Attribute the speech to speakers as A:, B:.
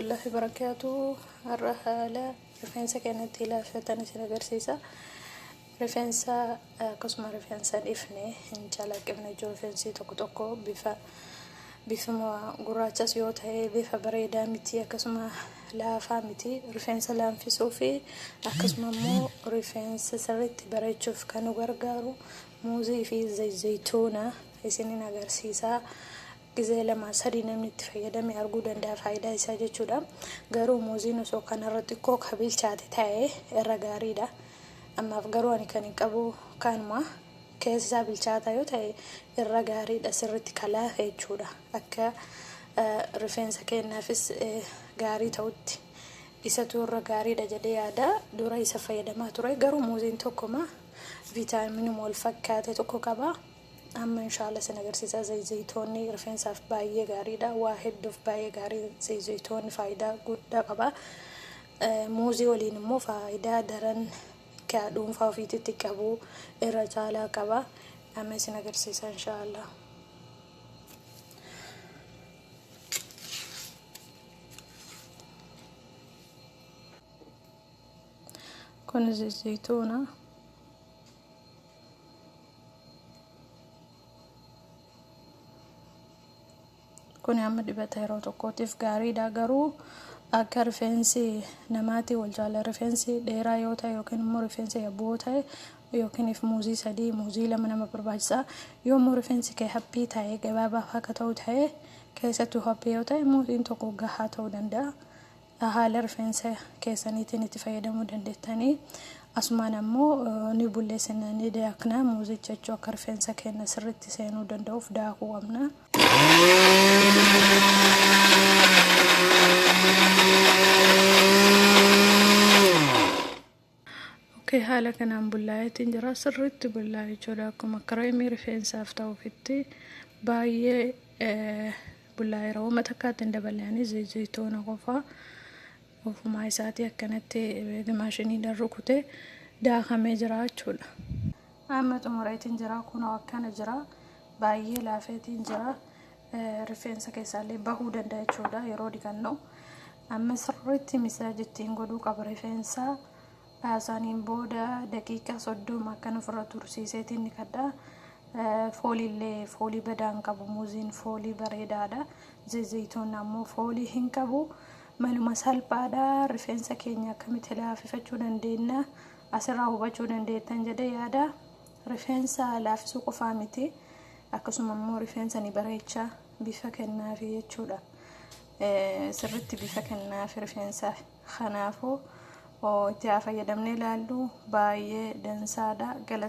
A: warahmatullahi barakaatu har'a haala rifeensa keenya itti ilaafatan isin agarsiisa rifeensa akkasuma rifeensa dhiifne hin calaqqifne jiru rifeensi tokko tokko bifa bifuma gurraachas yoo ta'e bifa bareedaa miti akkasuma laafaa miti rifeensa laanfisuu fi akkasuma immoo rifeensa sirriitti bareechuuf kan nu gargaaru muuzii fi zayituuna isinin agarsiisa gizee lama sadii namni itti fayyadame arguu danda'a faayidaa isaa jechuudha. Garuu muuziin osoo kanarra xiqqoo ka bilchaate ta'e irra gaariidha. Ammaaf garuu ani kan hin qabu kanuma keessi isaa bilchaataa yoo ta'e irra gaariidha sirriitti ka laafe jechuudha. Akka rifeensa keenyaafis gaarii ta'utti isatu irra gaariidha jedhee yaada. Dura isa fayyadamaa ture garuu muuziin tokkuma viitaaminuma wal fakkaate tokko qaba. Amma inshaalla isin agarsiisaa zayzaytoonni rifeensaaf baay'ee gaariidha waa hedduuf baay'ee gaarii zayzaytoonni faayidaa guddaa qaba muuzii waliin immoo faayidaa daran kaa dhuunfaa ofiititti qabu irra caalaa qaba amma isin agarsiisaa inshaalla kun zayzaytoona kun amma dibata yeroo tokkootiif gaariidha garuu akka rifeensi namaatii wal jaala rifeensi dheeraa yoo ta'e yookiin immoo rifeensi yabboo ta'e yookiinif muuzii sadii muuzii lama nama barbaachisa yoo immoo rifeensi kee haphii ta'e gabaabaa akka ta'u ta'e keessattuu haphii yoo ta'e muuziin tokko gahaa ta'uu danda'a dha. Haala rifeensa keessaniitiin itti fayyadamuu dandeettani. Asumaan ammoo ni bulleessina, ni daakna. Muuzii jechuu akka rifeensa keenya sirriitti seenuu danda'uuf daakuu qabna. ok haala kanaan bullaa'eetiin jira sirriitti bullaa'e jechuudha akkuma kireemii rifeensaaf ta'ufitti baay'ee bullaa'eera wama takkaatti hin daballe ani zayitoona qofa ofumaa isaatii akkanatti maashiniidhaan rukute daakamee jira jechuudha. Amma xumureetiin jira kunoo akkana jira baay'ee laafeetiin jira rifeensa keessaallee bahuu danda'a jechuudha yeroo dhiqannu amma sirriitti misaaj ittiin godhuu qaba rifeensa isaaniin booda daqiiqaa soddoma akkan ofirra tursiiseetiin dhiqadha fooliillee foolii badaan qabu muuziin foolii bareedaadha zayituun ammoo foolii hin qabu maluma salphaadha rifeensa keenya akkamitti laafifachuu dandeenya asirraa hubachuu dandeettan jedhee yaada Rifeensa laafisuu qofaa miti akkasuma immoo rifeensa ni bareecha bifa kennaafi jechuudha. Sirritti bifa kennaafi rifeensa kanaafuu itti haa fayyadamnee ilaallu baay'ee dansaadha galatooma.